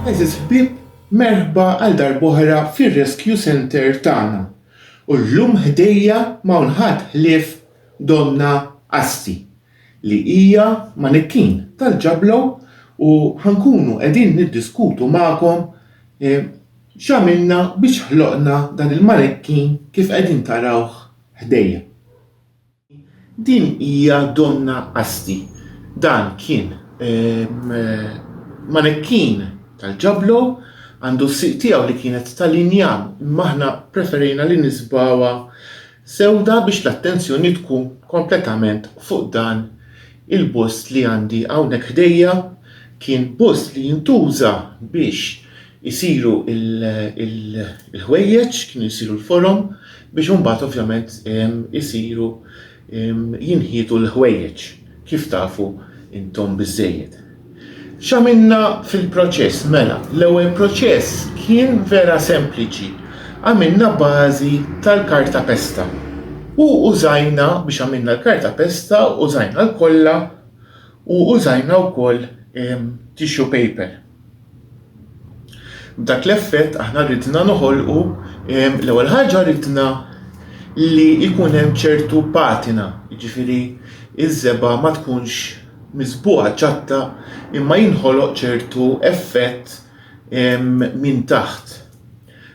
Għeżież ħbieb, merħba għal darb'oħra fir-Rescue Centre tagħna. U llum ħdejja ma hawn ħadd ħlief Donna Assi li hija manikkin tal-Ġablow u ħa nkunu qegħdin niddiskutu magħkom x'għamilna biex ħloqna dan il-manikkin kif qegħdin tarawh ħdejja. Din hija Donna Asti. Dan kien manekkin tal-Ġablo, għandu s-sieq tiegħu li kienet tal-injam imma aħna ppreferejna li nisbgħuha sewda biex l-attenzjoni tkun kompletament fuq dan Il-bust li għandi hawnhekk ħdejja kien bust li jintuża biex isiru l-ħwejjeġ, kienu jsiru l-forom biex imbagħad ovvjament isiru jinħietu l-ħwejjeġ kif tafu intom biżżejjed. X'għamilna fil-proċess? Mela, l-ewwel proċess kien vera sempliċi. Għamilna bażi tal-karta pesta. U użajna biex għamilna l-karta pesta, użajna l-kolla u użajna wkoll tissue paper. B'dak l-effett aħna ridna noħolqu, l-ewwel ħaġa ridna li jkun hemm ċertu patina, jiġifieri ż-żebgħa ma tkunx miżbugħa ċatta imma jinħoloq ċertu effett minn taħt.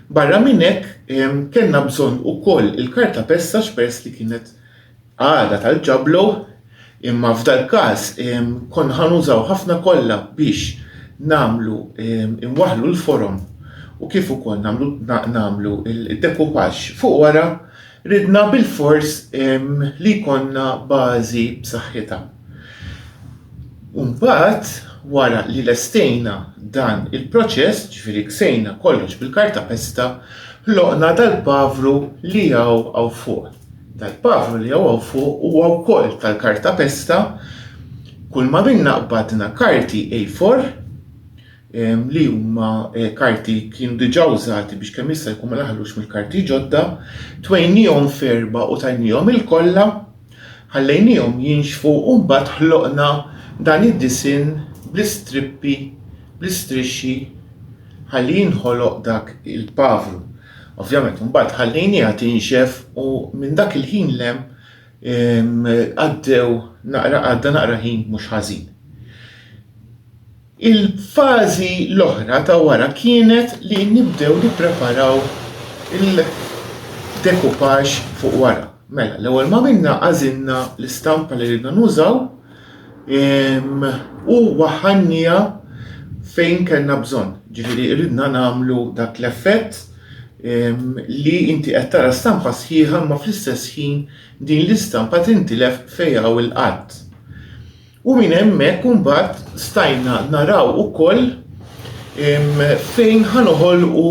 Barra minn hekk kellna bżonn ukoll il-kartapesta x'peress li kienet għada tal-ġablow, imma f'dal-każ konna ħa nużaw ħafna kolla biex nagħmlu inwaħħlu l-forom u kif ukoll nagħmlu nagħmlu d-dekupaġġ fuq wara, ridna bilfors li jkollna bażi b'saħħitha. U mbagħad wara li lestejna dan il-proċess, ġifieri ksejna kollox bil-kartapesta, ħloqna dal-pavru li hawn hawn fuq. tal-pavru li hawn hawn fuq huwa wkoll tal-kartapesta. Kulma minna qbadna karti A4 ehm, li huma eh, karti kienu diġà użati biex kemm jista' jkun ma naħlux mill-karti ġodda, twejnihom ferba u tajnihom il-kollha, ħallejnihom jinxfu u mbagħad ħloqna dan id-disinn bl-istrippi, bl-istrixxi ħalli jinħoloq dak il-pavru. Ovvjament imbagħad ħallejniha tinxef u minn dak il-ħin lem għaddew naqra għadda naqra ħin mhux ħażin. Il-fażi l-oħra ta' wara kienet li nibdew nippreparaw il-dekupaġġ fuq wara. Mela, l-ewwel ma minna għażilna l-istampa li ridna nużaw, U waħħalniha fejn kellna bżonn. Ġifieri ridna nagħmlu dak l-effett li inti qed tara stampa sħiħa imma fl-istess ħin din l-istampa tintilef fejn hawn il-qadd. U minn hemmhekk imbagħad stajna naraw ukoll fejn ħa noħolqu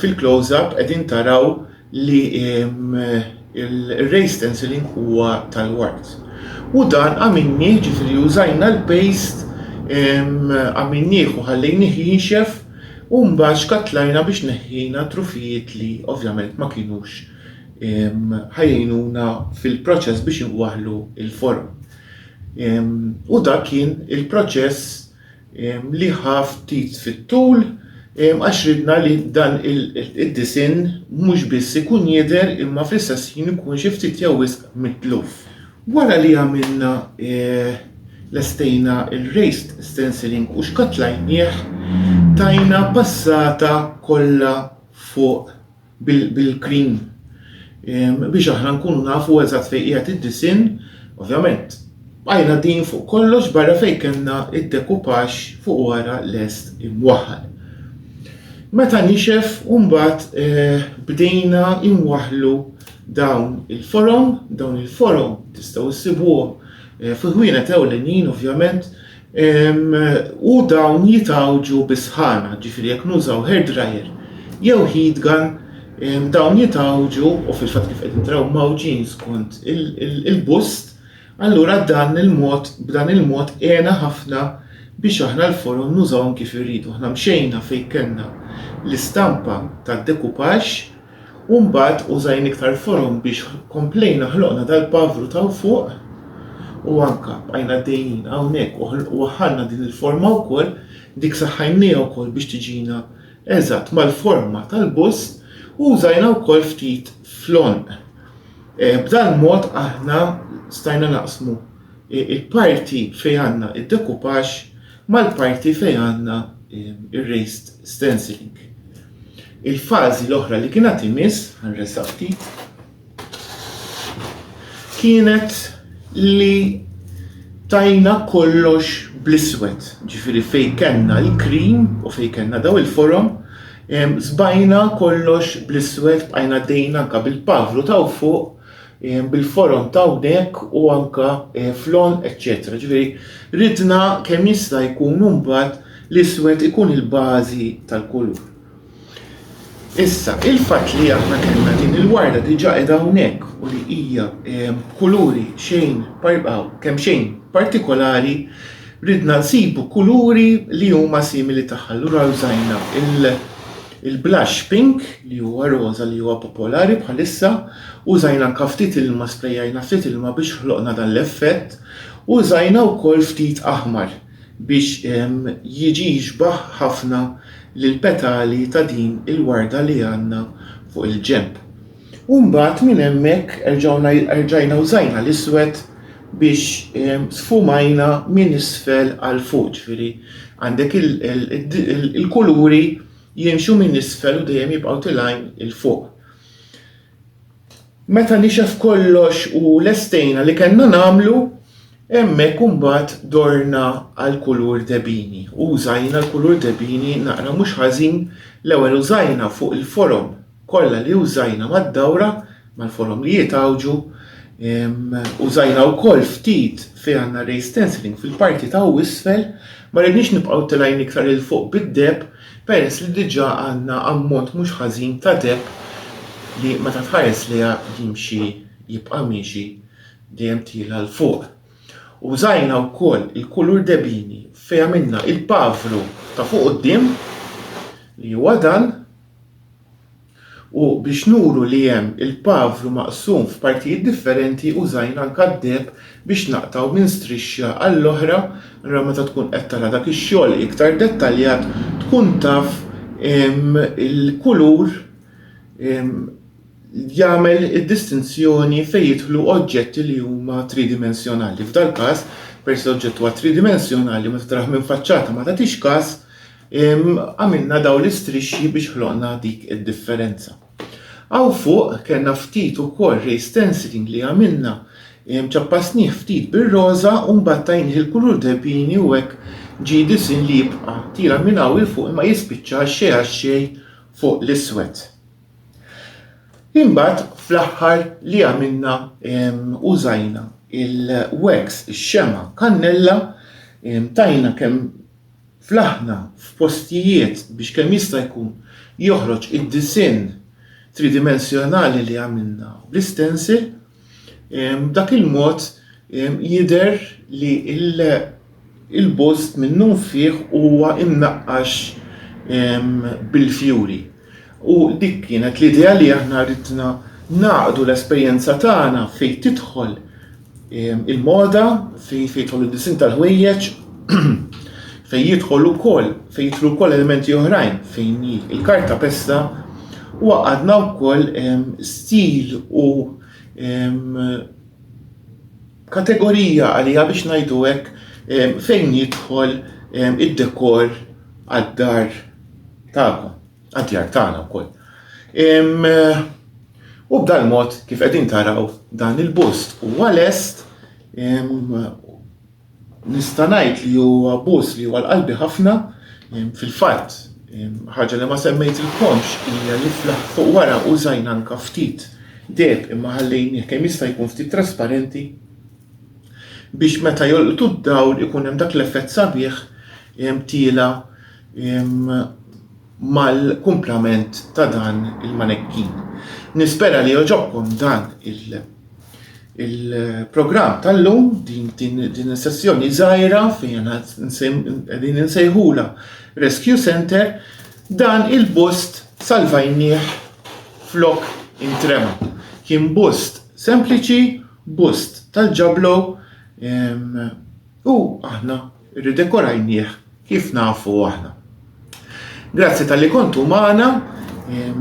Fil-close up qegħdin taraw li il-raised stenciling huwa tal-ward. U dan għamilnieh ġifieri użajna l-paste għamilnieh u ħallejnieh jinxef u mbagħad xkattlajna biex neħħejna trufijiet li ovvjament ma kinux ħa jgħinuna fil-proċess biex inwaħħlu l-forom. U dak kien il-proċess. li ħa ftit fit-tul għax ridna li dan id-disinn mhux biss ikun jidher imma fl-istess ħin ikun xi ftit jew wisq mitluf. Wara li għamilna lestejna r-raised stenciling u xkattlajnieh tajna passata kollha fuq bil-cream biex aħna nkunu nafu eżatt fejn qiegħed id-disinn, ovvjament bqajna din fuq kollox barra fejn kellna id-dekupax fuq wara lest imwaħħal. Meta nixef mbagħad eh, bdejna imwaħlu dawn il-forom, dawn il-forom tistgħu ssibuhom eh, fi ħwienet ewlenin ovvjament u dawn jitgħawġu bi sħana, ġifieri jekk nużaw hair dryer jew heat gun dawn jitgħawġu u fil-fatt kif qegħdin taraw mgħawġin skont il-bust, allura dan il-mod b'dan il-mod għena ħafna biex aħna l-forom nużawhom kif irridu. Aħna mxejna fejn kellna l-istampa tad-decoupage, U mbagħad użajn iktar forom biex komplejna ħloqna dal-pavru t'hawn fuq u anka bqajna għaddejjin hawnhekk u ħl- u waħħalna din il-forma wkoll, dik saħħajnniha wkoll biex tiġina eżatt mal-forma tal-bus u użajna wkoll ftit fl-għonq. Eh, b'dal-mod aħna stajna naqsmu i- il-parti fejn għandna id-decoupage mal-parti fejn għandna r-raised stenciling. Il-fażi l-oħra li kien għad imiss, ħanressaq ftit, kienet li tajna kollox bl-iswed, ġifiri fej kenna l-krim u fej kenna daw il-forum, zbajna kollox bl-iswed bqajna dejna anka bil-pavlu taw fuq bil-forom ta' hawnhekk u anke fl-on, eċċetera. Ġifieri ridna kemm jista' jkun imbagħad l-iswed ikun il-bażi tal-kulur. Issa, il-fatt li aħna kellna din il-warda diġà qiegħda hawnhekk u li hija kuluri xejn kemm xejn partikolari, ridna nsibu kuluri li huma simili tagħha, allura użajna il- Il-blush pink, li huwa roża li huwa popolari bħalissa, użajna anke ftit ilma, sprejajna ftit ilma biex ħloqna dan l-effett, u użajna wkoll ftit aħmar biex jiġi jixbah ħafna lill-petali ta' din il-warda li għandna fuq il-ġenb. U mbagħad minn hemmhekk erġgħuna erġajna użajna l-iswed biex ehm, sfumajna minn isfel għal fuq, ġifieri għandek il-kuluri jimxu minn isfel u dejjem jibqgħu tilajn il fuq. Meta nixef kollox u lestejna li kellna nagħmlu, hemmhekk imbagħad dorna għal kulur debini. U użajna l-kulur debini naqra mhux ħażin l-ewwel użajna fuq il-forom kollha li użajna mad-dawra, mal-forom li jitgħawġu, użajna wkoll ftit fejn għandna raised stenciling fil-parti ta' u isfel, ma ridniex nibqgħu tilgħin iktar 'il fuq bid-deheb peress li diġà għandna ammont mhux ħażin ta' deheb li meta tħares lejha jimxi jibqa' miexi dejjem tiela' 'l fuq. Użajna wkoll il-kulur debini fejn għamilna il-pavru ta' fuq quddiem li huwa dan. U biex nuru li hemm il-pavru maqsum f'partijiet differenti użajna l-kaddeb biex naqtgħu minn strixxa għall-oħra, allura meta tkun qed tara dak ix-xogħol iktar dettaljat tkun taf il-kulur jagħmel id-distinzjoni fejn jidħlu oġġetti li huma tridimensjonali. F'dal-każ, peress li l-oġġett huwa tridimensjonali meta tarah minn faċċata ma tagħtix każ, Għamilna dawn l-istrixxi biex ħloqna dik id-differenza. Hawn fuq kellna ftit ukoll ray stenciling li għamilna, ċappasnih ftit bir-roża u mbagħad tajnih il-kulur debini u hekk ġie disinn li jibqa' tiela' minn hawn 'il fuq imma jispiċċa xejn għax xejn fuq l-iswed. Imbagħad fl-aħħar li għamilna użajna il-wax, ix-xemgħa kannella, tajna kemm fl-aħna, f'postijiet biex kemm jista' jkun joħroġ id-disinn tridimensjonali li għamilna bl-istensil, b'dak il-mod jidher li l-bust minnunfih huwa mnaqqax bil-fjuri. U dik kienet l-idea li aħna ridna naqdu l-esperjenza tagħna fejn tidħol ehm, il-moda, fejn jidħol id-disin tal-ħwejjeġ, fejn jidħol ukoll, fejn jidħlu wkoll elementi oħrajn, fejn il-karta pesta, u għadna wkoll ehm, stil u ehm, Kategorija għaliha biex ngħidu hekk fejn jidħol id-dekor għad-dar tagħkom, għad-djar tagħna wkoll. U b'dan mod kif qegħdin taraw dan il-bust huwa lest nista' ngħid li huwa bust li huwa l-qalbi ħafna fil-fatt Ħaġa li ma semmejtilkomx hija li fl-aħħar fuq wara użajna anke ftit deheb imma ħallejnieh kemm jista' jkun ftit trasparenti biex meta jolqtu d-dawl ikun hemm dak l-effett sabiħ tiela' mal-kumplament ta' dan il-manekkin. Nispera li jogħġobkom dan il- Il-programm tal-lum, din is-sessjoni żgħira fejn qegħdin insejħula Rescue Center, dan il-bust salvajnieh flok intrema. Kien bust sempliċi, bust tal-ġablo u aħna Irridekorajnieh kif nafu aħna. Grazzi talli kontu magħna,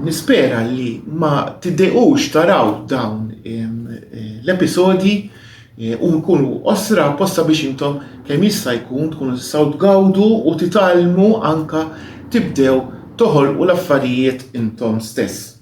nispera li ma tidejqux taraw dawn l-episodji u nkunu qosra apposta biex intom kemm jista' jkun tkunu tistgħu tgawdu u titgħallmu anka tibdew toħolqu l-affarijiet intom stess.